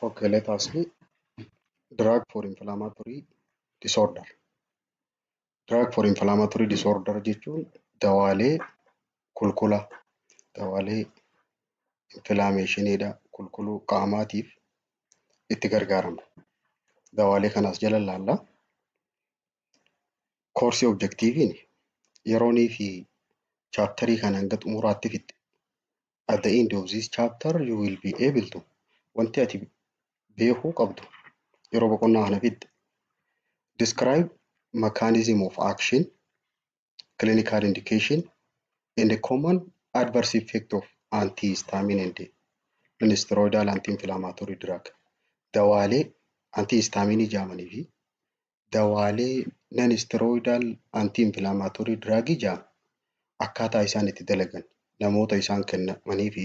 Okay, let us see drug for inflammatory disorder. Drug for inflammatory disorder jechuun dawaalee kulkula dawaalee infilaameeshiniidha kulkuluu qaamaatiif itti gargaaramna. Dawaalee kanas jala ilaalla. Koorsii objektiiviin yeroonii fi chaaptarii kana hanga xumuraatti fixxe at the end of this chapter you will be able to wanti ati beekuu qabdu yeroo boqonnaa kana fixxe describe mechanism of action clinical indication and the common adverse effect of antihistamine and nonsteroidal anti-inflammatory drug dawaalee antihistamine jaamanii fi dawaalee non-steroidal anti-inflammatory drug ja'a akkaataa isaan itti dalagan namoota isaan kennamanii fi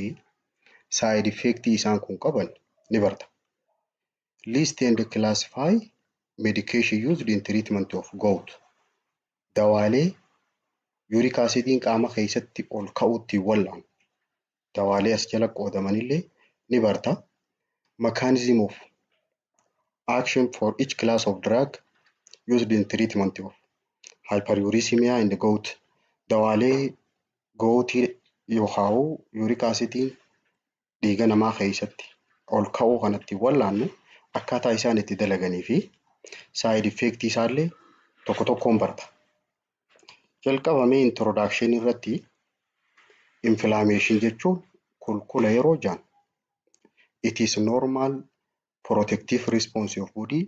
side effect isaan kun qaban ni barta. List and classify medication used in treatment of gout. Dawaalee yuuriik asiidiin qaama keessatti ol ka'uutti wal'aan dawaalee as jala qoodamanillee ni barta. Mechanism of action for each class of drug used in treatment of hyperuricemia and gout. Dawaalee gootii yookaan yuurik asidiin dhiiga namaa keessatti ol ka'uu kan ittiin wallaannu akkaataa isaan itti dalaganii fi saayid effeektii isaallee tokko tokkoon barta. Jalqaba mee introduction irratti inflammation jechuun kulkula yeroo jaan it is normal protective response of body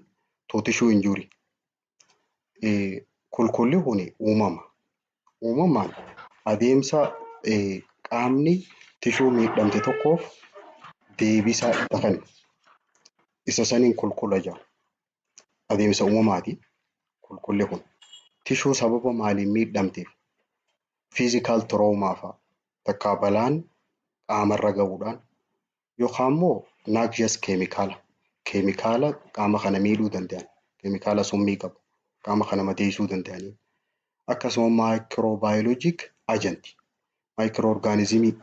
to tissue injury. Eh, Kulkulli kun uumama. Uumamaan adeemsa eh, qaamni tishuu miidhamte tokkoof deebisaa itti kennu. Isa saniin kulkula jaa. adeemsa uumamaati qulqulli kun. Tishuu sababa maaliin miidhamteef physical trauma fa'a takkaa balaan qaamarra ga'uudhaan yookaan immoo noxious keemikaala keemikaala qaama kana miidhuu danda'an keemikaala summii qabu qaama kana madeessuu danda'aniin akkasuma maayikiroobaayoloojik ajanti maayikiroo orgaanizimii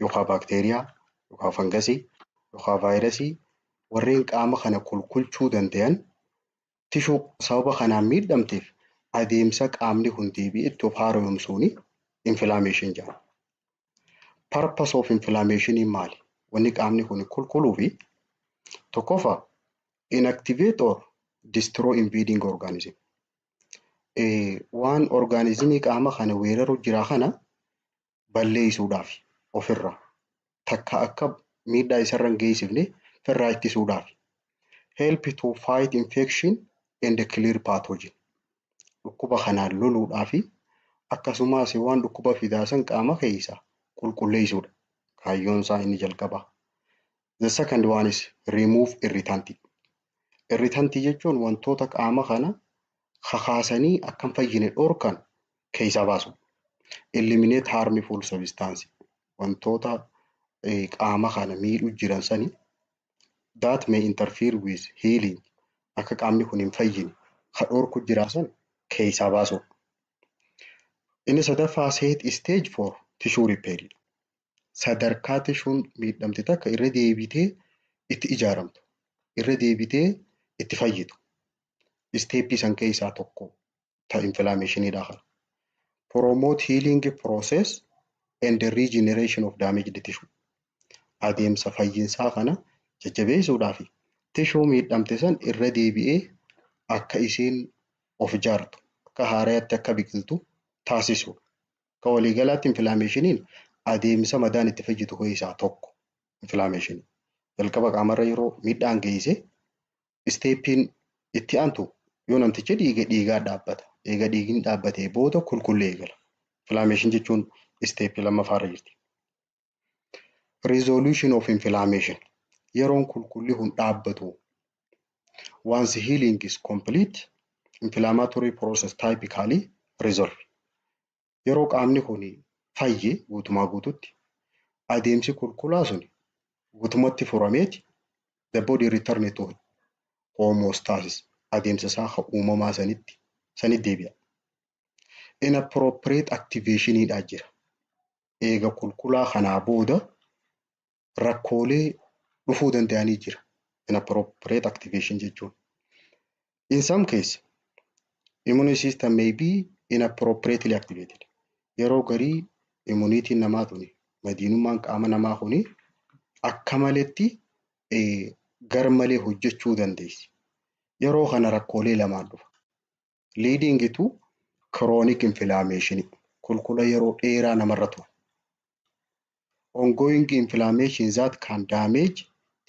yookaan baakteeriyaa yookaan fangasii yookaan vaayirasii warreen qaama kana kulkulchuu dandayan tishuu sababa kanaan miidhamteef adeemsa qaamni kun deebi'ee itti of haaromsuun inflammation jedhama. Purpose of inflammation maali? Wanni qaamni kun kulkuluu fi tokkoffaa inactivate or destroy invading organism. Waan orgaanizimii qaama kana weeraru jira kana balleessuudhaafi ofirraa takka akka miidhaa isarra hin geessifne firraa ittisuudhaafi. Help to fight infection and clear pathogen. Dhukkuba kanaan loluudhaafi akkasumas waan dhukkuba fidaa san qaama keessaa qulqulleessuudha. Kaayyoon isaa inni jalqabaa. The second one is remove irritant. Irritant jechuun wantoota qaama kana kakaasanii akka hin fayyine dhorkan keessaa baasu. Eliminate harmful substance. Wantoota eh, qaama kana miidhu jiran sani that may interfere with healing. Akka qaamni kun hin fayyine ka dhorku jiran san keessaa baasu. Inni sadaffaa set stage for tissue repair. sadarkaa tishuun miidhamte takka irra deebitee itti ijaaramtu, irra deebitee itti fayyitu. Isteeppii san keessaa tokko ta inflammationiidha kana. Promote healing process and regeneration of damaged tissue. Adeemsa fayyinsaa kana jajjabeessuudhaa fi tishuu miidhamte san irra deebi'ee akka isiin of ijaartu, akka haarayatti akka biqiltu taasisuudha. Akka waliigalaatti infilaameeshiniin adeemsa madaan itti fayyitu keessaa tokko infilaameeshinii. Jalqaba qaamarra yeroo miidhaan geesse isteeppiin itti aantu yoo namtichi dhiige dhiigaa dhaabbata. Eega dhiigni dhaabbatee booda kulkullee eegala. Infilaameeshin jechuun isteeppii lammaffaarra jirti. Resolution of inflammation. Yeroon kulkulli hun dhaabbatu. Once healing is complete, inflammatory process typically resolve. Yeroo qaamni kun fayye guutumaa guututti adeemsi kulkulaa sun guutumatti furameeti the body return to homeostasis adeemsa isaa ka uumamaa sanitti sanitti deebi'a. Inappropriate activation dha jira. eega kulkulaa kanaa booda rakkoolee dhufuu danda'anii jira. Inappropriate activation jechuun. In some case, immune system may be inappropriately activated. Yeroo garii immuniitiin namaa tuni, madiinummaan qaama namaa kuni akka maletti gar malee hojjechuu dandeessi. Yeroo kana rakkoolee lamaan dhufa. Liidingi tu kiroonik infilaameeshinii, kulkula yeroo dheeraa namarra turu. Ongoyingi infilaameeshin zaat kaan daameeji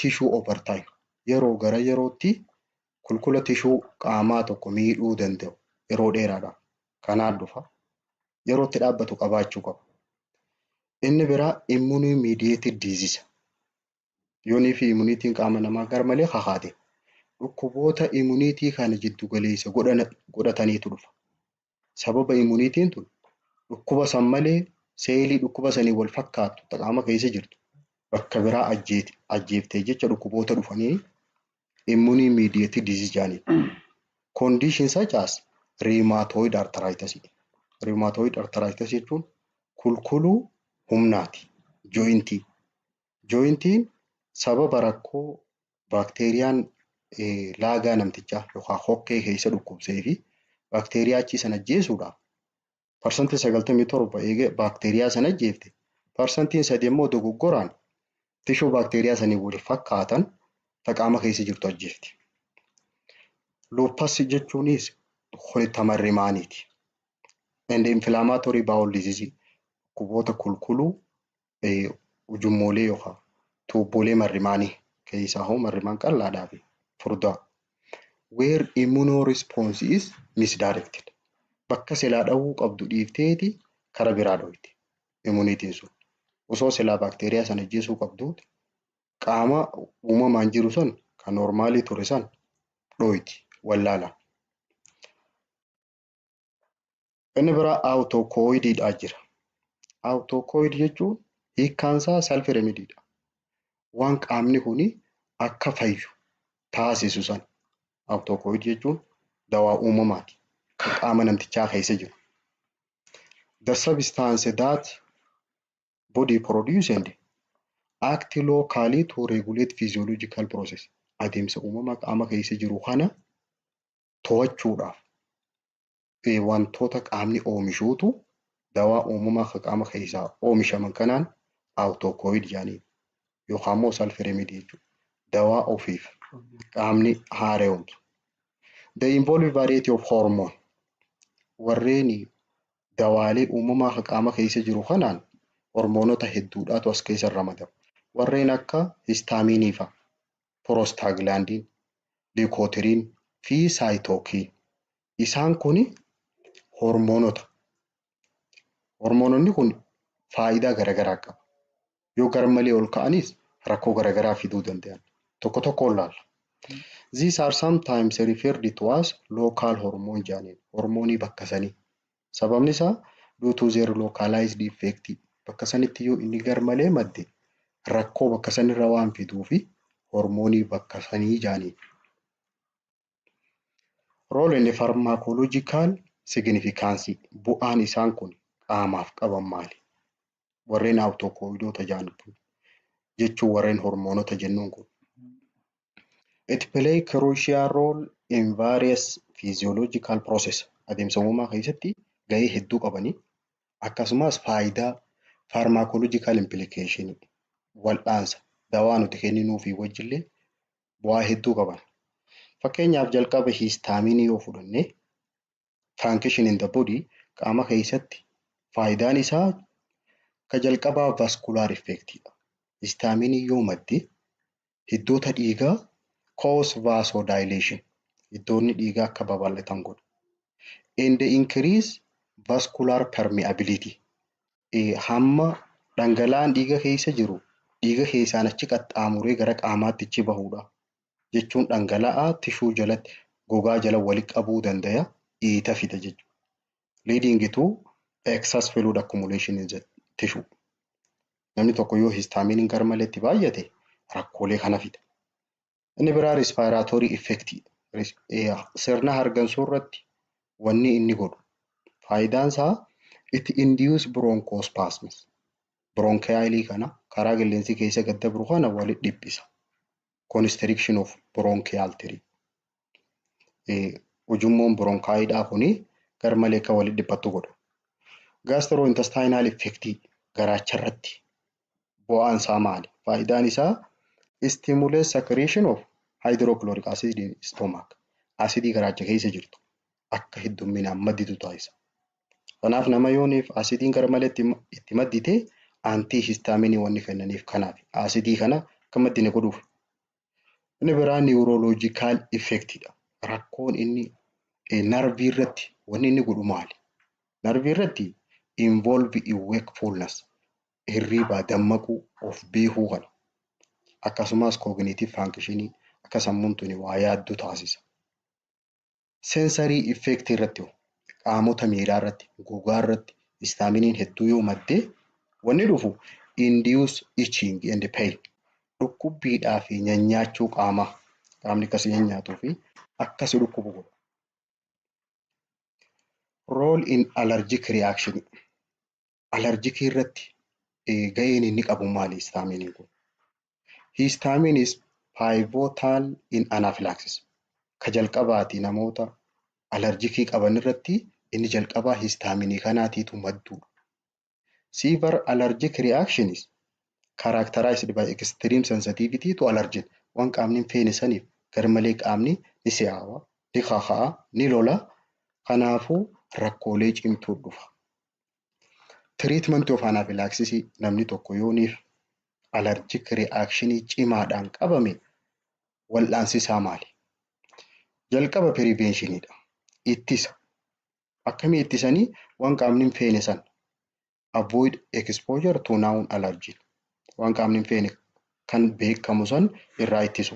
tishuu over time, yeroo gara yerootti kulkula tishuu qaamaa tokko miidhuu danda'u yeroo dheeraadhaaf kanaan dhufa, yeroo itti dhaabbatu qabaachuu qaba. Inni biraa immunii miidiyeetid diizisa, Yoonii fi imuniitiin qaama namaa garmalee kakaate dhukkuboota imuniitii kana jiddu galeessa godhana- godhataniitu dhufa. Sababa imuniitiin tun dhukkuba san malee seelii dhukkuba saniin wal fakkaattu ta qaama keessa jirtu bakka biraa ajjeete- ajjeeftee jecha dhukkuboota dhufanii immune mediated disease jedhaniin. Condition such as rheumatoid arthritis. Rheumatoid arthritis jechuun kulkuluu humnaati, jointii. Jooyintiin sababa rakkoo baakteeriyaan laagaa namtichaa yookaan hokkee keessa dhukkubsee fi baakteeriyaa achii sana ajjeesuudhaaf parsantiin sagaltamii torba eega baakteeriyaa sana ajjeefte parsantiin sadi immoo dogoggoraan tishuu baakteeriyaa sanii wal fakkaatan ta qaama keessa jirtu ajjeefti. Luuppas jechuunis horitta marrimaaniiti. And inflammatory bowel disease dhukkuboota kulkuluu ujummoolee yookaan tuubboolee marrimaanii keessaa hoo marrimaan qal'aadhaa fi furdaa where immuno response is misdirected bakka silaa dhawuu qabdu dhiifteeti kara biraa dhoyte immunitiin sun osoo silaa baakteeriyaa sana ajjeesuu qabduuti qaama uumamaan jiru san kan normaalii ture san dhoyti wallaalaan. Inni biraa awutookoyidiidha jira. Awutookoyidii jechuun hiikkaan isaa self remediidha. Waan qaamni kuni akka fayyu taasisu san awutookoyidii jechuun dawaa uumamaati. Kan qaama namtichaa keessa jiru. The substance that body produce and act locally to regulate physiological process. Adeemsa uumamaa qaama keessa jiru kana to'achuudhaaf wantoota qaamni oomishuutu dawaa uumamaa ka qaama keessaa oomishaman kanaan autocoid jedhaniin yookaan immoo self remedy jechuudha. Dawaa ofiif qaamni haara'umtu. The involve variety of hormone warreen dawaalee uumamaa ka qaama keessa jiru kanaan hormoonota hedduudhaatu as keessa ramadamu. Warreen akka histaaminii fa'a. prostaaglaandiin, leukotriene fi cytokine. Isaan kun hormoonota. Hormoononni kun faayidaa garagaraa qabu. Yoo garmalee ol ka'anis rakkoo garagaraa fiduu danda'an. Tokko tokkoon laalla. These are sometimes referred to as local hormone jedhaniin. Hormoonii bakka sanii. Sababni isaa due to their localized effect bakka sanitti yoo inni garmalee madde rakkoo bakka sanirra waan fiduufi hormoonii bakka sanii jaaniin. Role and pharmacological significance bu'aan isaan kun qaamaaf qaban maali? Warreen awutookowidoota jaan kun jechuun warreen hormoonota jennuun kun It play crucial role in various physiological process. Adeemsa uumamaa keessatti gahee hedduu qabanii akkasumas faayidaa pharmacological implication wal'aansa dawaa nuti kenninuu fi wajjillee bu'aa hedduu qaban. Fakkeenyaaf jalqaba hiistaaminii yoo fudhanne Frankition in the body qaama keessatti faayidaan isaa ka jalqabaa vascular effect dha. Istaamiinii yoo madde hiddoota dhiigaa cause vasodilation hiddoonni dhiigaa akka babal'atan godha. And increase vascular permeability hamma dhangala'aan dhiiga keessa jiru dhiiga keessaan achi qaxxaamuree gara qaamaatti achi bahuudha. jechuun dhangala'aa tishuu jalatti gogaa jala wali qabuu dandaya iita fida jechuudha. Leading to excess fluid accumulation in the tissue. Namni tokko yoo histaamiiniin garmalee itti baay'ate rakkoolee kana fida. Inni biraa respiratory effect sirna hargansuu irratti wanni inni godhu faayidaan isaa itti induce bronchospasms bronchialii kana karaa qilleensi keessa gad dabru kana wali dhiphisa. constriction of bronchial tree. Ujummoon bronkaayidhaa kun garmalee akka walitti dhiphattu godha. Gastrointestinal effect garaacha irratti bu'aan isaa maali? Faayidaan isaa stimulate secretion of hydrochloric acid in stomach. Asidii garaacha keessa jirtu akka heddumminaan madditu taasisa. Kanaaf nama yooniif asidiin garmalee itti itti maddite antii histaaminii wanni kennaniif kanaaf asidii kana akka maddine godhuuf. Inni biraa niwurooloojikaal effektidha. Rakkoon inni eh, narvii irratti wanni inni godhu maali? Narvii irratti involve in wakefulness hirriibaa dammaquu of beekuu kana akkasumas cognitive functionii akka sammuun tuni waa yaaddu taasisa. Sensory effect irratti hoo? Qaamota miiraa irratti, gogaa irratti histaminiin hedduu yoo madde wanni dhufu induce itching and pain dhukkubbiidhaa fi nyanyaachuu qaamaa qaamni akka si nyanyaatuu fi akka si dhukkubu godha. Role in allergic reaction alarjikii irratti ga'een inni qabu maali histaamiiniin kun? Histaamiin is pivotal in anaphylaxis. Ka jalqabaati namoota alarjikii qaban irratti inni jalqabaa histaaminii kanaatiitu madduudha. Severe allergic reaction is characterized by extreme sensitivity to allergen. Waan qaamni hin feene saniif garmalee qaamni ni si'aawa, ni kaka'a, ni lola. Kanaafuu rakkoolee cimtuu dhufa. Tiriitmantii of anaafilaaksisii namni tokko yoo niif alarjik ri'aakshinii cimaadhaan qabame wal'aansi isaa maali? Jalqaba piriveenshinidha. Ittisa. Akkamii ittisanii waan qaamni hin feene san avoid exposure to noun allergen waan qaamni hin feene kan beekamu san irraa ittisu.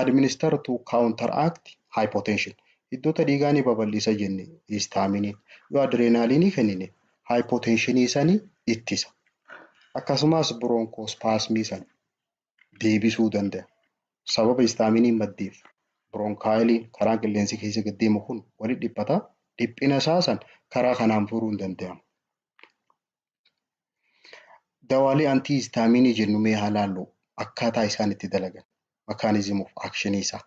administer to counteract hypotension hiddoota dhiigaa ni babal'isa jenne histaaminiin yoo adreenaaliinii kennine hypotensionii sani ittisa akkasumas bronchospasmii sana deebisuu danda'a sababa histaaminiin maddeef bronkaayiliin karaan qilleensi keessa gad deemu kun walitti dhiphata dhiphina isaa san karaa kanaan furuun danda'ama. Dawaalee antii istaamiinii jennu mee haa laallu akkaataa isaan itti dalagan. Mechanism of action isaa.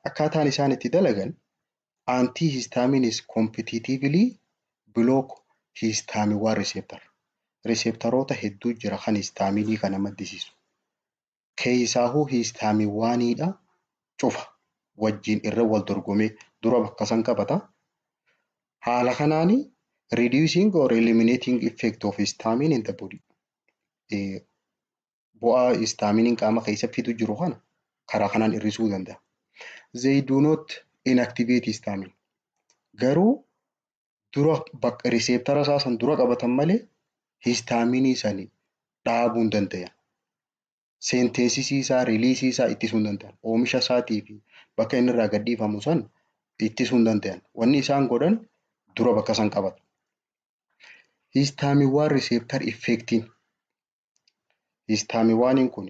Akkaataan isaan itti dalagan antii histaamiinis competitively block histaamiwaa receptor. Receptaroota hedduu jira kan histaamiinii kana maddisiisu. keeysaahuu hiistaamiwwaaniidha cufa wajjiin irra wal dorgomee dura bakka san qabata. Haala kanaani reducing or eliminating effect of histamine in the body. Eh, Bu'aa histaaminiin qaama keessa fidu jiru kana karaa kanaan hir'isuu danda'a. They do not inactivate histamine. Garuu dura bakka riseeptara isaa san dura qabatan malee histaaminii sani dhaabuu hin danda'an. Seenteesisii isaa, riiliisii isaa ittisuu hin danda'an. Oomisha isaatii fi bakka inni irraa gadhiifamu san ittisuu hin danda'an. Wanni isaan godhan dura bakka san qabatu. Histaamiwwaan riseeptar effeektiin histaamiwaaniin kun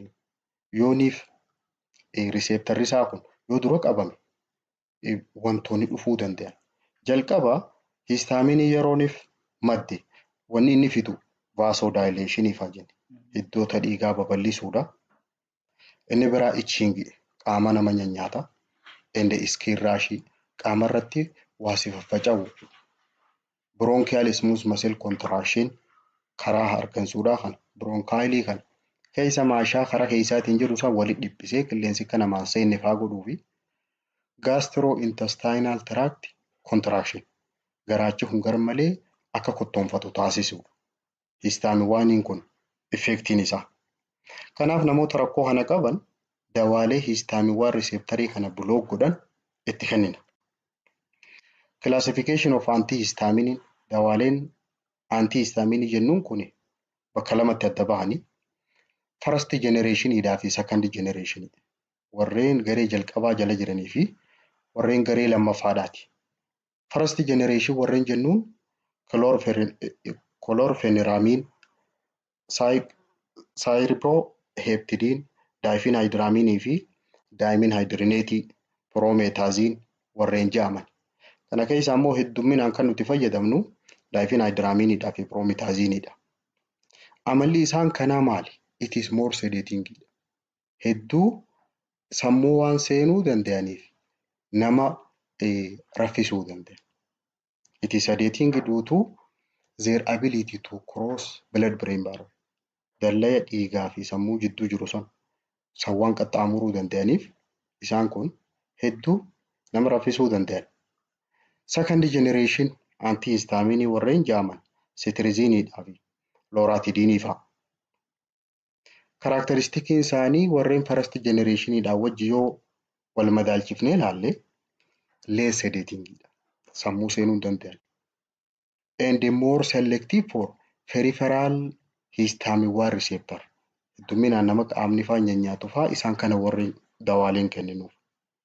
yooniif riseeptarri isaa kun yoo dura qabame wantoonni dhufuu danda'an. Jalqaba hiistaaminii yerooniif madde wanni inni fidu vaasodaayileeshinii faa jenne hiddoota dhiigaa babal'isuudha. Inni biraa ichiingi qaama nama nyanyaata. Ende iskiin raashii qaama irratti waa si faffaca'u bronchial smooth muscle contraction karaa hargansuudhaa kana bronkaayilii kana keessa maashaa karaa keessaatiin jiru san walitti dhiphisee qilleensi akka namaan seenne faa godhuu fi gaastiro intestinaal tiraakti kontiraakshin garaachi kun garmalee akka kottoonfatu taasisuudha. less than waaniin kun effectiin isaa. Kanaaf namoota rakkoo kana qaban dawaalee hiistaamiiwwaan riseeptarii kana block godhan itti kennina. Classification of antihistaminin dawaaleen antihistaminii jennuun kun bakka lamatti adda bahanii first generation dhaa fi second generation warreen garee jalqabaa jala jiranii fi warreen garee lammaffaadhaati. first generation warreen jennuun chlorpheniramiin, cyriproheptidine, diphenhydramine fi dimenhydrinate, promethazine warreen jedhaman. Kana keessaa immoo heddumminaan kan nuti fayyadamnu diphenhydramine dhaa fi promethazine dha. Amalli isaan kanaa maali? It is more sedating dha. hedduu sammuu waan seenuu danda'aniif nama raffisuu danda'a. It is sedating due to their ability to cross blood brain barrier. Dallaya dhiigaa fi sammuu jidduu jiru san san waan qaxxaamuruu danda'aniif isaan kun hedduu nama raffisuu danda'an. Second generation antihistamine warreen jaaman cetirizine dhaa fi loratidine fa'a. Karaakteristikiin isaanii warreen first generation dhaan wajji yoo wal madaalchifnee ilaalle less sedating dha. Sammuu seenuu hin danda'an. And more selective for peripheral histamine-1 receptor. Heddumminaan nama qaamni faa nyanyaatu faa isaan kana warreen dawaaleen kenninuuf.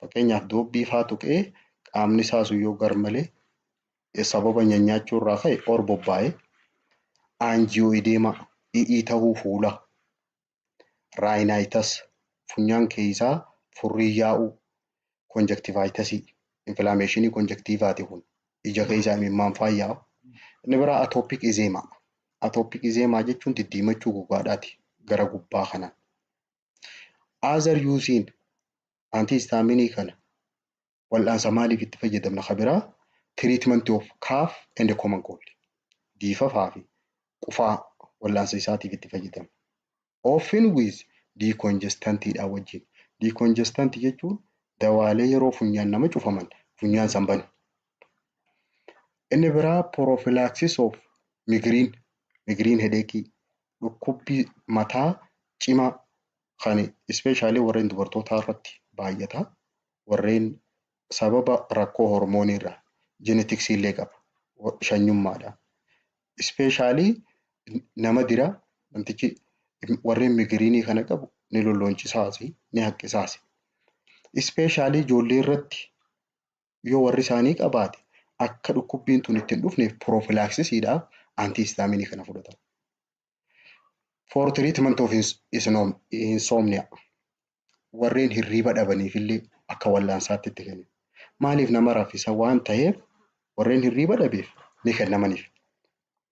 fakkeenyaaf doobbii faa tuqee qaamni isaa sun yoo garmalee sababa nyanyaachuu irraa ka'e or bobbaa'e aanjiyoo ideemaa i'ii tahuu fuula raayinaayitas funyaan keeysaa furrii yaa'uu konjektivaayitasii infilaameeshinii konjektiivaati kun ija keeysaa imimmaan faa yaa'u inni biraa atoopik izeemaa atoopik izeemaa jechuun diddiimachuu gogaadhaati gara gubbaa kanaan Other usein antihistamine kana wal'aansa maaliif itti fayyadamna ka biraa treatment of cough and common cold diifafaa fi qufaa wal'aansa isaatiif itti fayyadamna. Often with decongestant dha wajjin. Decongestant jechuun dawaalee yeroo funyaan nama cufaman funyaan san banu. Inni biraa prophylaxis of migraine, migraine headache Dhukkubbii mataa cimaa kan especially warreen dubartootaa irratti baay'ata. Warreen sababa rakkoo hormoonii irraa genetics illee qaba. Shanyummaadha. Especially nama dira namtichi warreen migiriinii kana qabu ni lollooncisaasi ni haqqisaasi. Especially ijoollee irratti yoo warri isaanii qabaate akka dhukkubbiin tun itti hin dhufneef prophylactisiidhaaf antihistamine kana fudhatan. For treatment of ins- isnom- insomnia warreen hirriiba dhabaniif illee akka wallaansaatti itti kennu. Maaliif nama raffisa waan ta'eef warreen hirriiba dhabeef ni kennamaniif.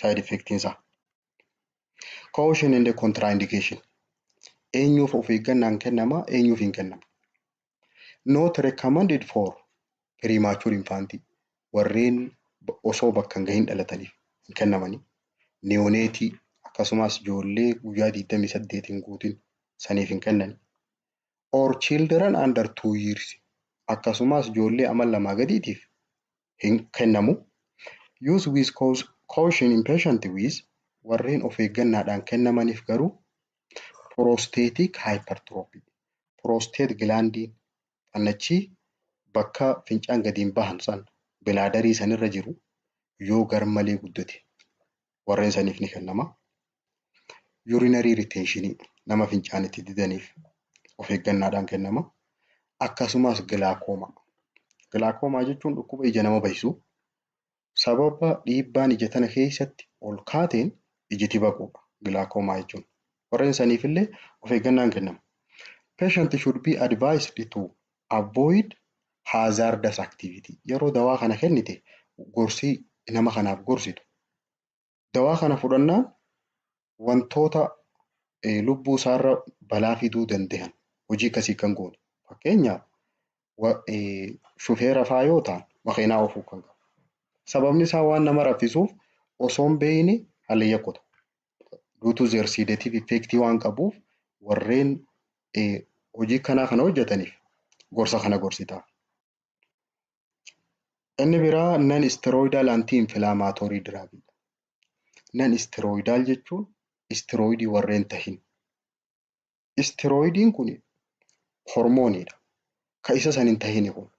side effect isaa. Caution and contraindication eenyuuf of eeggannaan kennama eenyuuf hin kennamu. Not recommended for premature infant warreen osoo bakka hin gahin dhalataniif hin kennamani. Neonatii akkasumas ijoollee guyyaa 28 hin guutin saniif hin kennani. Or children under 2 years akkasumas ijoollee amal lamaa gadiitiif hin kennamu. Use with caution in patient with warreen of eeggannaadhaan kennamaniif garuu prostatic hypertrophy prostate gilaandiin xannachii bakka fincaan gadiin bahan san bilaadarii sanirra jiru yoo garmalee guddate warreen saniif ni kennama. Yuurinarii ritenshinii nama fincaan itti didaniif of eeggannaadhaan kennama. Akkasumas gilaakoomaa. Gilaakoomaa jechuun dhukkuba ija nama bahisu sababa dhiibbaan ija tana keessatti ol kaateen ijiti baquudha gilaakoomaa jechuun. Warreen saniif illee of eeggannaan kennama. Patient should be advised to Avoid hazardous activity. Yeroo dawaa kana kennite gorsi nama kanaaf gorsitu. Dawaa kana fudhannaan wantoota eh, lubbuu isaarra balaa fiduu danda'an hojii akkasii kan goone. Fakkeenyaaf wa- eh, shufeera faa yoo ta'an makiinaa oofuu kan qabu. Sababni isaa waan nama raffisuuf osoo hin beekne hallayya godha. due to their sedative effect waan qabuuf warreen hojii kanaa kana hojjetaniif gorsa kana gorsita. Inni biraa non steroidal anti inflammatory drug dha. Non steroidal jechuun steroidii warreen tahin. Istiroidiin kun hormooniidha. Ka isa san hin tahini kun.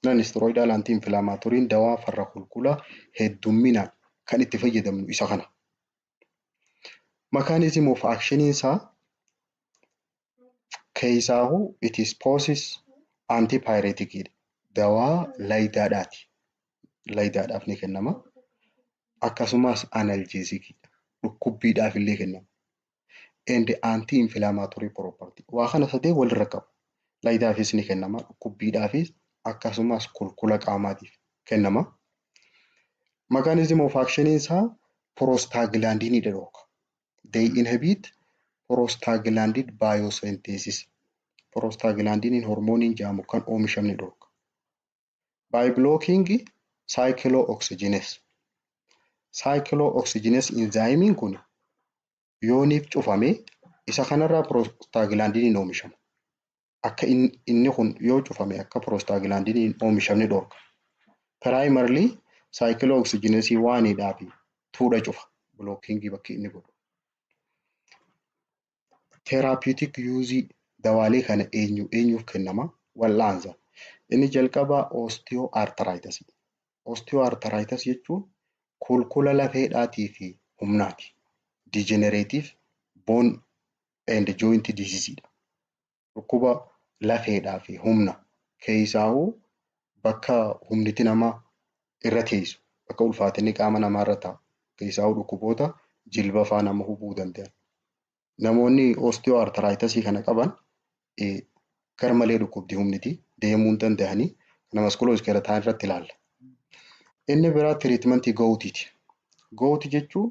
Nan istiroidaal anti infilaamaaturiin dawaa farra kulkulaa heddumminaan kan itti fayyadamnu isa kana. Mechanism of action isaa keessaahu it is poses antipyretic dha. Dawaa layidaadhaati. Layidaadhaaf ni kennama. Akkasumas analgesic dha. Dhukkubbiidhaaf illee kennama. and anti inflammatory property waa kana sadee walirra qabu layidaafis ni kennama dhukkubbiidhaafis akkasumas kulkula qaamaatiif kennama mechanism of action isaa prostaglandin dhooka they inhibit prostaglandin biosynthesis prostaglandin hormooniin jaamu kan oomishamni dhooka by blocking cyclooxygenase. Cyclooxygenase enzyme kun yooniif cufame isa kanarraa prostaglandin oomishama. Akka inni kun yoo cufame akka prostaglandin hin oomishamne dhorka. Primarily cyclooxygenase 1 dhaa fi 2 dha cufa blocking bakki inni godhu. Therapeutic use dawaalee kana eenyu eenyuuf kennama? Wal'aansa. Inni jalqabaa osteoarthritis. Osteoarthritis jechuun kulkula lafeedhaatii fi humnaati. Degenerative bone and joint disease dha. Dhukkuba lafeedhaa fi humna keessaahuu bakka humniti nama irra teessu bakka ulfaatinni qaama namaa irra taa'u keessaahuu dhukkuboota jilba faa nama hubuu danda'an. Namoonni oostiyoo artaraayitasi kana qaban gar malee dhukkubdi humniti deemuu hin danda'anii kana maskuloo iskeletaan irratti ilaalla. Inni biraa tiriitmantii goowtiiti. Goowti jechuun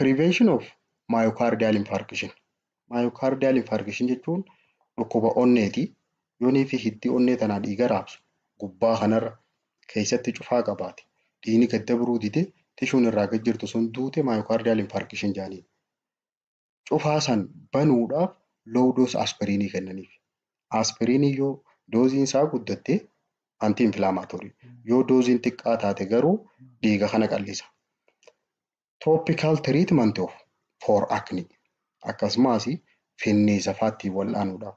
Prevention of myocardial infarction. Myocardial infarction jechuun dhukkuba onneeti. Yoonii fi hiddii onnee tanaa dhiiga raabsu gubbaa kanarra keessatti cufaa qabaate. Dhiigni gad dabruu dide tishuun irraa gad jirtu sun duute myocardial infarction jedhaniin. cufaa san banuudhaaf low dose aspiriinii kennaniif. Aspiriiniin yoo dooziin isaa guddatte anti inflammatory, yoo dooziin xiqqaa taate garuu dhiiga kana qallisa. Topical treatment of for acne akkasumaas finniisa faattiin wal'aanuudhaaf.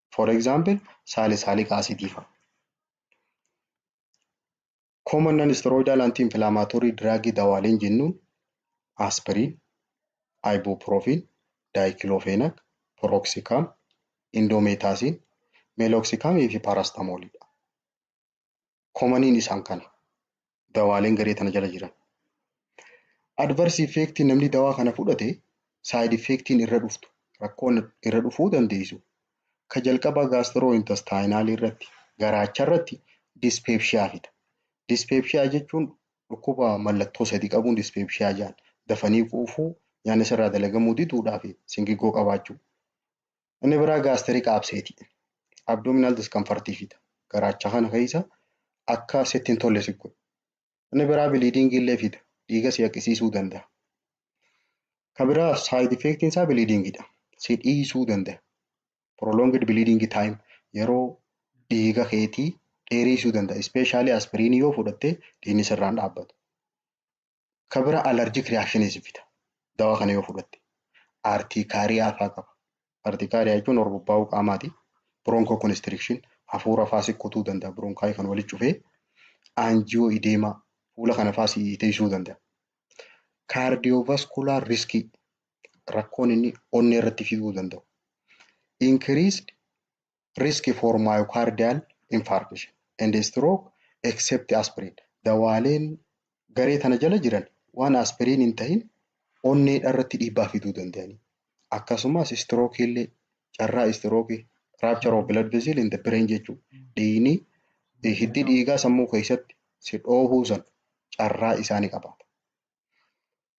for example salicylic acid fa'a. Common non-steroidal anti-inflammatory drug dawaaleen jennuun aspirin, ibuprofen, diclofenac, piroxicam, indomethacin, meloxicam fi paracetamol dha. Komaniin isaan kana. Dawaaleen garee tana jala jiran. Adverse effect namni dawaa kana fudhate side effect irra dhuftu rakkoon irra dhufuu dandeessu. Ka jalqabaa gastrointestinal irratti garaacha irratti dyspepsia fida. Dyspepsia jechuun dhukkuba mallattoo sadi qabuun dyspepsia jedhan. Dafanii quufuu, nyaanni sirraa dalagamuu diduudhaa fi singigoo qabaachuu. Inni biraa gaasterik abseeti. Abdominal discomfort fida. Garaacha kana keessa akka sitti hin tolle si godha. Inni biraa biliidiingii illee fida. Dhiiga si haqisiisuu danda'a. Ka biraa saayid effeektiin isaa biliidiingidha. Si dhiisuu danda'a. Prolonged bleeding time yeroo dhiiga keetii dheeriisuu danda'a. Ispeeshaalii aspiriinii yoo fudhatte dhiigni sirraan dhaabbatu. Ka bira allergic reactions fida. Dawaa kana yoo fudhatte. Artikaariyaa faa qaba. Artikaariyaa jechuun horbobbaa'uu qaamaati. Broncho constriction hafuura faa si kutuu danda'a. Bronkaayii kan walitti cufee anjiyoo ideemaa fuula kana faa si teessisuu danda'a. Cardiovascular risk rakkoon inni onnee irratti fiduu danda'u. Increased risk for myocardial infarction and stroke except aspirin dawaaleen garee tana jala jiran waan aspiriin hin tahin onneedha irratti dhiibbaa fiduu danda'anii akkasumas stroke illee carraa stroke rupture of blood vessel in the brain jechuu dhiigni hiddi dhiigaa sammuu keessatti si dhoohuu san carraa isaani qabaata.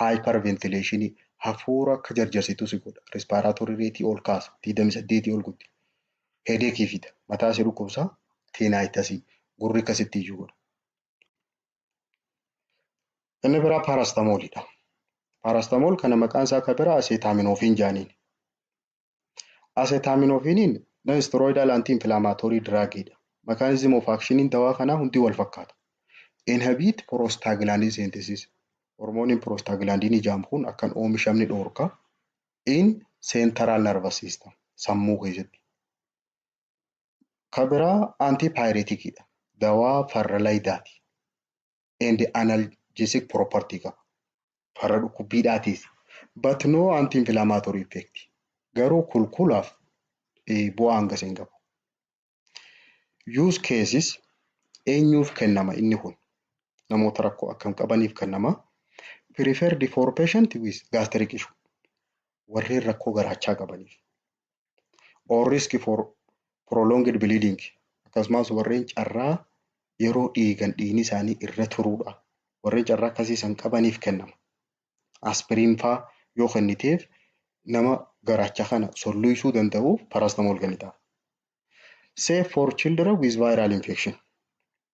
Hyperventilation hafuura akka jarjarsitu si godha. Respiratory rate ol kaasa. 28 ol gutti. Headache fida. Mataa si dhukkubsa. Tinnitus gurri akkasitti iyyuu godha. Inni biraa paracetamol dha. Paracetamol kana maqaan isaa akka biraa acetaminophen jaaniin. Asetaaminoofiniin non-steroidal anti-inflammatory drug dha. Mechanism of action'n dawaa kanaa hundi wal fakkaata. Inhibit prostaglandin synthesis. Hormooniin prostaglandin jedhamu kun akka hin oomishamne dhoorka. In central nervous system. Sammuu keessatti. Ka biraa antipyretic dha. Dawaa farra layidaati. and analgesic property qaba. Farra dhukkubbiidhaatiis. But no anti-inflammatory effect. Garuu kulkulaaf eh, bu'aa hangas hin qabu. Use cases eenyuuf kennama inni kun? Namoota rakkoo akkam qabaniif kennama? Preferred for patient with gastric issue. Warreen rakkoo garaachaa qabaniif. or risk for prolonged bleeding akkasumas warreen carraa yeroo dhiigan dhiigni isaanii irra turuudha. Warreen carraa akkasii san qabaniif kennama. Aspiriin faa yoo kenniteef nama garaacha kana solluysuu danda'uuf paracetamol kennitaaf. Safe for children with viral infection.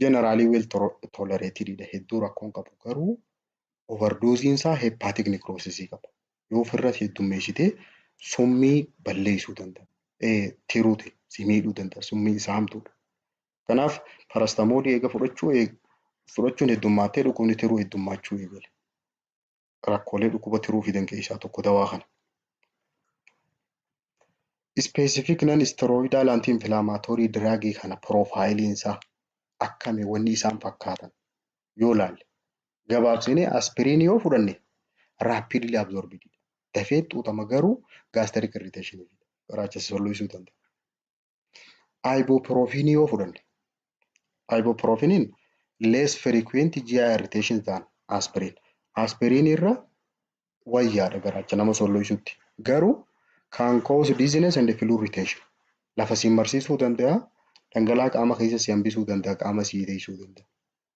generally well tolerated dha hedduu rakkoon qabu garuu overdoozii isaa hepatic necrosis qaba yoo ofirra heddummeessite summii balleessuu danda'a tiruuti si miidhuu danda'a summii isaa hamtuudha kanaaf parastamoolii eega fudhachuu fudhachuun heddummaattee dhukkubni tiruu heddummaachuu eegale rakkoolee dhukkuba tiruu fidan keessaa tokko dawaa kana. Specific non steroidal anti inflammatory drug kana piroofaayiliin isaa akkami wanni isaan fakkaatan yoo laalle gabaabsinee aspiriin yoo fudhanne rapidly absorbed dafee xuuxama garuu gastric irritation garaacha sosolloosuu danda'a. Ibuprofen yoo fudhanne ibuprofeniin less frequent GI irritation than aspirin. Aspirin irra wayyaadha garaacha nama solloysutti. Garuu can cause dizziness and flu irritation. Lafa siin marsiisuu danda'a, dhangala'aa qaama keessa si hambisuu danda'a, qaama si hidheessuu danda'a.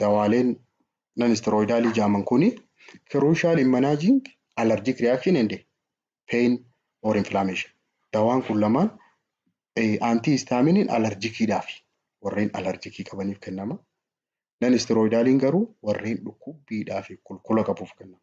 dawaaleen nanisterooyidaalii jaaman kuni crucial in managing allergic reaction and pain or inflammation. Dawaan kun lamaan antii istaaminiin alarjikiidhaaf warreen alarjikii qabaniif kennama. Nanisterooyidaaliin garuu warreen dhukkubbiidhaaf kulkula qabuuf kennama.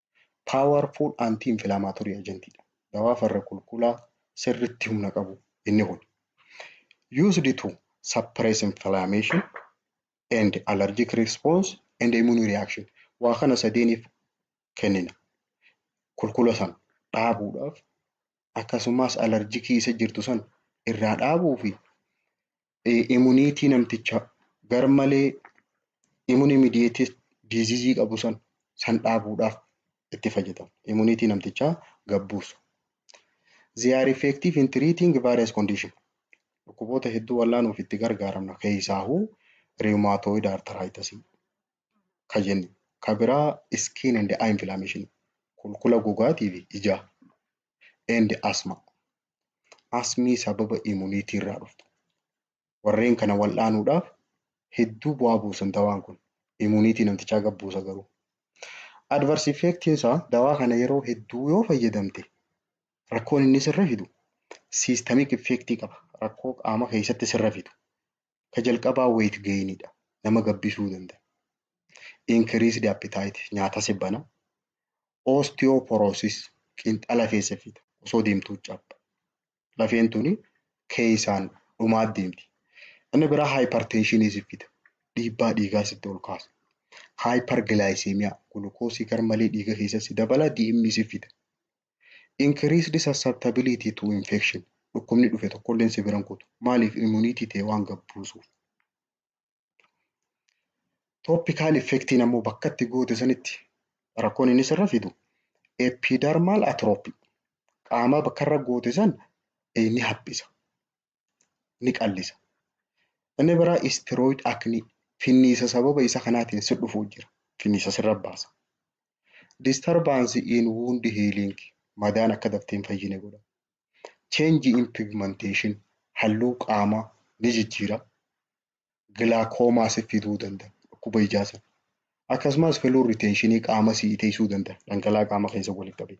powerful anti inflammatory agent dha. Dawaa farra kulkulaa sirritti humna qabu inni kun. Used to suppress inflammation and allergic response and immune reaction. Waa kana sadeeniif kennina. Kulkula san dhaabuudhaaf akkasumas alarjikii isa jirtu san irraa dhaabuu fi imuniitii namticha garmalee immune mediated disease qabu san san dhaabuudhaaf itti fayyadamu. Imuniitii namtichaa gabbuusu. They are effective in treating various condition. Dhukkuboota hedduu wallaanuuf itti gargaaramna keessaahuu rheumatoid arthritis ka jennu ka biraa skin and eye inflammation kulkula gogaatii fi ijaa and asthma Asmii sababa immunity irraa dhuftu. Warreen kana wal'aanuudhaaf hedduu bu'aa buusan dawaan kun. Immunity namtichaa gad buusa garuu. Adverse effectiin isaa dawaa kana yeroo hedduu yoo fayyadamte rakkoon inni sirra fidu systemic effectii qaba. Rakkoo qaama keessatti sirra fidu. Ka jalqabaa weight gain dha. Nama gabbisuu danda'a. Increased appetite nyaata si bana. Osteoporosis qinxa lafee si fida. Osoo deemtuu cabba. Lafeen tuni keessaan dhumaa deemti. Inni biraa hypertension si fida. Dhiibbaa dhiigaa sitti ol kaasa. Hyperglycemia gulukoosii garmalee dhiiga keessa si dabala DM si fida. Increased susceptibility to infection. Dhukkubni dhufe tokkolleen si biran kutu. Maaliif immunity ta'e waan gad buusuuf. Topical effectiin ammoo bakka itti goote sanitti rakkoon inni sirra fidu epidermal atrophy. Qaamaa bakka irra goote san ni haphisa. ni qallisa. Inni biraa istiroid aknii finniisa sababa isa kanaatiin si dhufu jira. Finniisa sirra baasa. Disturbance in wound healing madaan akka daftee hin fayyine godha. Change in pigmentation halluu qaamaa ni jijjiira. Gilaakoomaa si fiduu danda'a. Dhukkuba ijaa sana. Akkasumas fluid retentionii qaama si iteessuu danda'a. Dhangala'aa qaama keessa walitti qabee.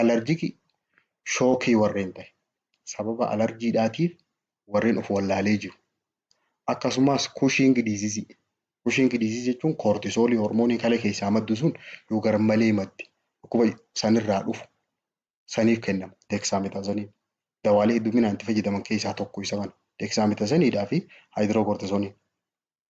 alarjiki shookii warreen ta'e sababa alarjiidhaatiif warreen of wallaalee jiru akkasumas kushiingi diizizii kushiingi diizizii jechuun koortisoolii hormoonii kalee keessaa maddu sun yoo garmalee madde dhukkuba sanirraa dhufu saniif kennama deeksaametaazaniin dawaalee hedduminaan itti fayyadaman keessaa tokko isa kana deeksaametaazaniidhaa fi haayidirookoortisooniin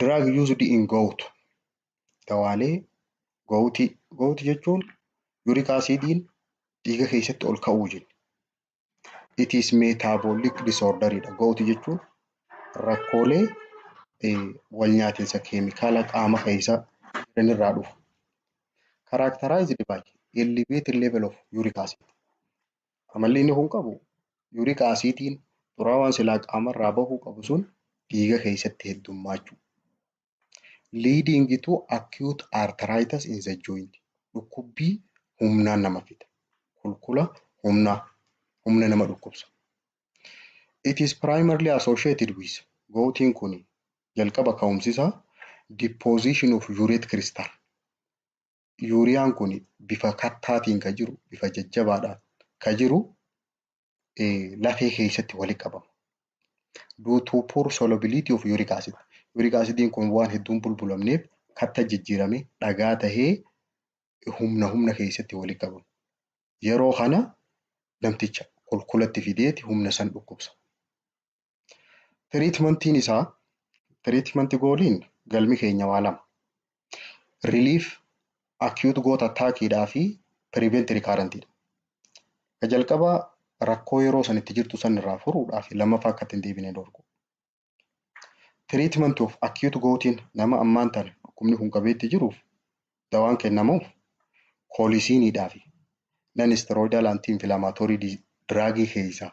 Drug used in gout dawaalee gowutii gowutii jechuun yurik asiidiin dhiiga keessatti ol ka'uu jenna. It is metabolic disorder dha. Gowutii jechuun rakkoolee wal nyaatinsa keemikaala qaama keessa jiran irraa dhufu. Characterized by elevated level of uric acid. Amalli inni kun qabu yuuriik aasiidiin xuraawaan silaa qaamarraa bahuu qabu sun dhiiga keessatti heddummaachuu. Leading to acute arthritis in the joint. Dhukkubbii humnaan nama fida. Kulkula humnaa humna nama dhukkubsa. It is primarily associated with gouting kuni jalqaba ka'umsisaa deposition of urate crystal. yuuriyaan kun bifa kattaatiin ka jiru bifa jajjabaadhaan ka jiru lafee keessatti walitti qabama. Due to poor solubility of uric acid. Uric acidiin kun waan hedduun bulbulamneef katta jijjiirame dhagaa tahee humna humna keessatti walitti qabama. Yeroo kana namticha kulkulatti fideeti humna san dhukkubsa. Tiriitmantiin isaa tiriitmanti gooliin galmi keenya waa lama. Relief acute gout attack dhaa fi prevent recurrent dha. Ka jalqabaa rakkoo yeroo san itti jirtu san irraa furuudhaa fi lammaffaa akka itti hin deebine dhorku. Tiriitmanti of acute goutiin nama ammaan tana dhukkubni kun qabeetti jiruuf dawaan kennamuuf koolisiinii dhaa fi non steroidal anti inflammatory drug keessaa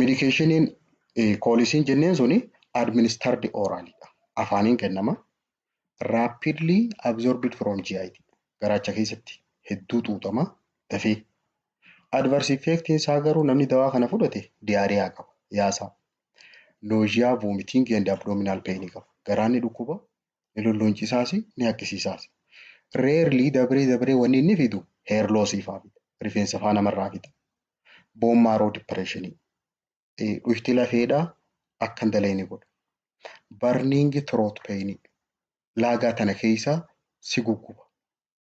Medikeeshiniin koolisiin jenneen suni administardi ooraalidha. Afaaniin kennama. Rapidly absorbed from GI. Garaacha keessatti hedduu xuuxama dafee. Adverse effect isaa garuu namni dawaa kana fudhate diyaariyaa qaba yaasaa. Nausea, vomiting and abdominal pain qaba. Garaanni dhukkuba ni lulluuncisaasi ni haqqisiisaasi. Rarely dabree dabree wanni inni fidu hair loss faa fida. Rifeensa faa namarraa fida. Bone marrow depression dhuyxi lafeedhaa akka hin dalayne godha. Burning throat pain laagaa tana keessa si gugguba.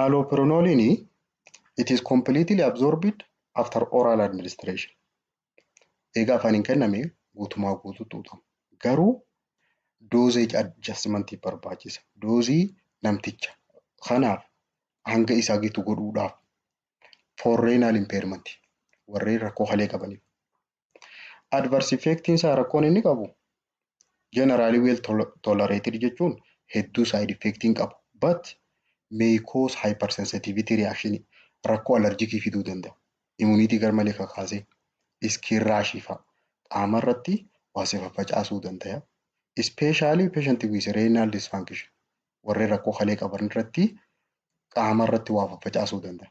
Allopurinolin it is completely absorbed after oral administration. Eega afaaniin kenname guutumaa guutuu xuuxama. Garuu dosage adjustment barbaachisa. Doozii namticha kanaaf hanga isaa gitu godhuudhaaf for renal impairment warreen rakkoo kalee qabaniif Adverse effectiin isaa rakkoon inni qabu generally well tol- tolerated jechuun hedduu side effect hin qabu but may cause hypersensitivity reaction rakkoo allergikii fiduu danda'a. Immunity garmalee kakaasee skin rash fa'a qaama irratti waa si faffacaasuu danda'a. Especially patient with renal dysfunction warreen rakkoo kalee qaban irratti qaama irratti waa faffacaasuu danda'a.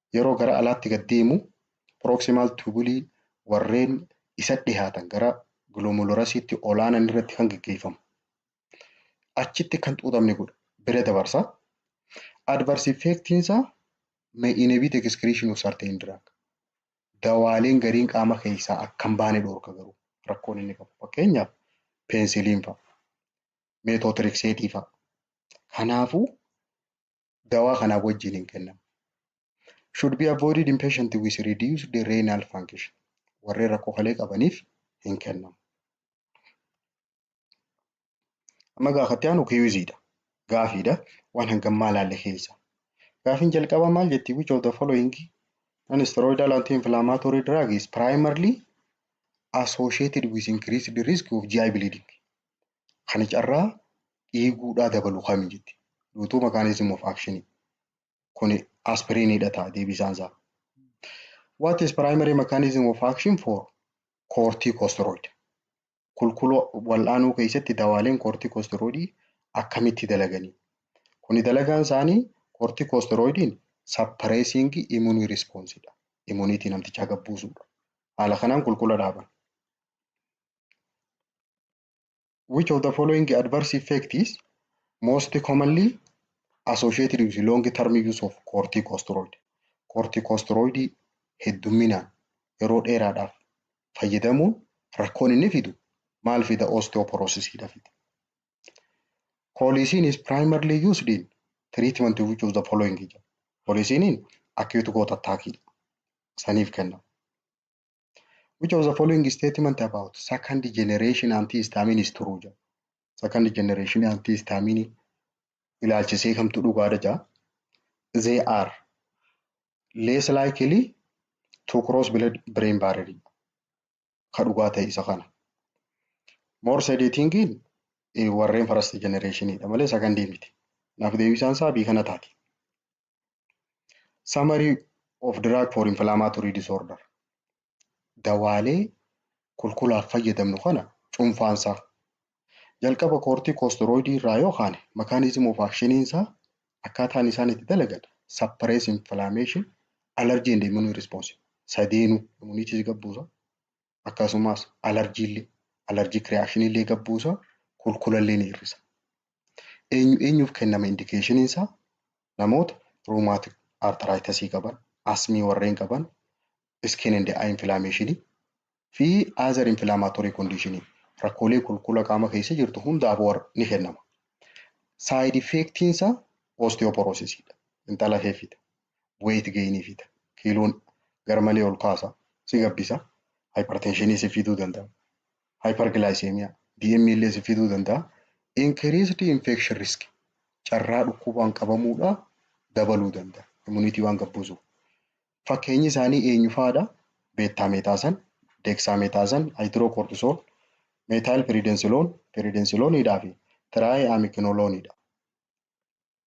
yeroo gara alaatti gad deemu proximal tubulii warreen isa dhihaatan gara glomerulorasiitti olaanan irratti kan geggeeffamu. Achitti kan xuuxamni godha bira dabarsa. Adverse effectiin isaa may inhibit excretion of certain drug. Dawaaleen gariin qaama keessaa akka hin baane dhorka garuu rakkoon inni qabu. Fakkeenyaaf peensiliin fa'a, meetootirikseetii fa'a. Kanaafuu dawaa kanaaf wajjin hin kennamu. Should be avoided in patient with reduced renal function. Warreen rakkoo kalee qabaniif hin kennamu. Amma gaa akkatti aanu kiyuuziidha. Gaafiidha. Waan hangam maal haalle keessa. Gaafiin jalqabaa maal jetti? Which of the following non-steroidal anti-inflammatory drug is primarily associated with increased risk of GI bleeding? kan carraa dhiiguudhaa dabalu kami jetti. Duutuu makaanizim of akshinii. Kuni aspiriiniidha ta'a deebisaan isaa. What is primary mechanism of action for corticosteroid? Kulkuloo wal'aanuu keessatti dawaaleen corticosteroidii akkamitti dalaganii? Kuni dalagaan isaanii corticosteroidiin suppressing immune response dha. Immuniitii namtichaa gabbuusuudha. Haala kanaan kulkula dhaaban. which of the following adverse effect is most commonly associated with long term use of corticosteroid corticosteroid heddumminaan yeroo dheeraadhaaf fayyadamuun rakkoon inni fidu maal fida osteoporosis dha fida koolisiin is primarily used in treatment which of the following jedha koolisiiniin acute gout attack dha saniif kennama Which of the following statement about second generation antihistamine is true jedha. Second generation antihistamine ilaalchisee kamtu dhugaadha jedha. They are less likely to cross blood brain barrier ka dhugaa ta'e isa kana. More sedating in eh, warreen first generation dha malee second miti. Naaf deebisaan isaa bii kana taati. Summary of drug for inflammatory disorder. Dawaalee kulkulaaf fayyadamnu kana cuunfaan isaa jalqaba koortiikoosteroidii irraa yoo kaane makaanizim of akshiniin isaa akkaataan isaan itti dalagan suppress inflammation, allergy and immune response sadeenuu immuniitii gabbuusa. akkasumas alarjiillee allergic reaction illee gad buusa kulkulallee ni hir'isa. Eenyu eenyuuf kennama indication isaa namoota rheumatic arthritis qaban, asmii warreen qaban, skin and eye inflammation fi other inflammatory condition rakkoolee kulkula qaama keessa jirtu hundaaf war ni kennama. Side effect isaa osteoporosis dha. Intala heefita. weight gain fida. Kiiloon garmalee ol kaasa, si gabbisa. Hypertension si fiduu danda'a. Hyperglycemia, DM illee si fiduu danda'a. Increased infection risk, carraa dhukkubaan qabamuudha dabaluu danda'a. Immunity waan gabbuusuuf. Fakkeenyi isaanii eenyu fa'aadha? Beettaameetaasan, deeksaametaazan, haayidirookortisool, meetaayil piriidensiloon, piriidensilooniidhaa fi tiraayi'aamikinolooniidha.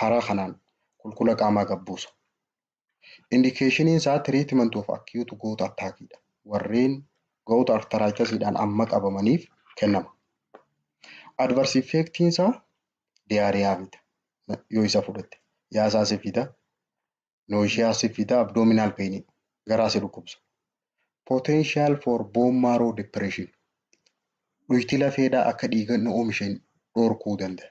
karaa kanaan kulkula qaamaa gad buusa. Indikeeshiniin isaa treatment of acute gout attack dha. Warreen gout arthritis dhaan amma qabamaniif kennama. Adverse effect isaa diarrhea fida yoo isa fudhatte. Yaasaa si fida, nausea si fida, abdominal pain garaa si dhukkubsa. Potential for bone marrow depression dhuyiti lafeedhaa akka dhiiga hin oomisheen dhorkuu danda'a.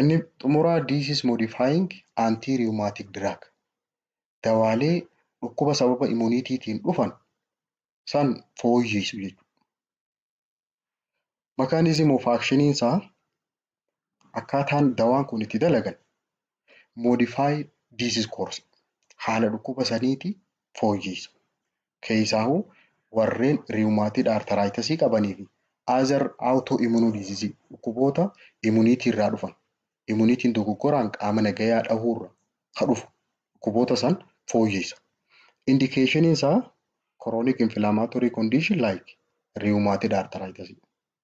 Inni xumuraa this is modifying anti-rheumatic drug. Dawaalee dhukkuba sababa immuniitiitiin dhufan san fooyyeysu jechuudha. Mechanism of action isaa akkaataan dawaan kun itti dalagan modify disease course haala dhukkuba saniiti fooyyeysa. Keeysaahu warreen rheumatoid arthritis qabanii fi other autoimmune disease dhukkuboota immunity irraa dhufan, immunity n dogoggoraan qaama nagayaa dhahuu irraa ka dhufu dhukkuboota san fooyyeysa. Indication isaa chronic inflammatory condition like rheumatoid arthritis.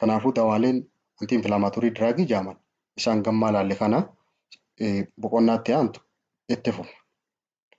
Kanaafuu dawaaleen antii infilaamaatorii diraagii jaaman isaan gammaa laalle kana boqonnaa itti aantu itti fufna.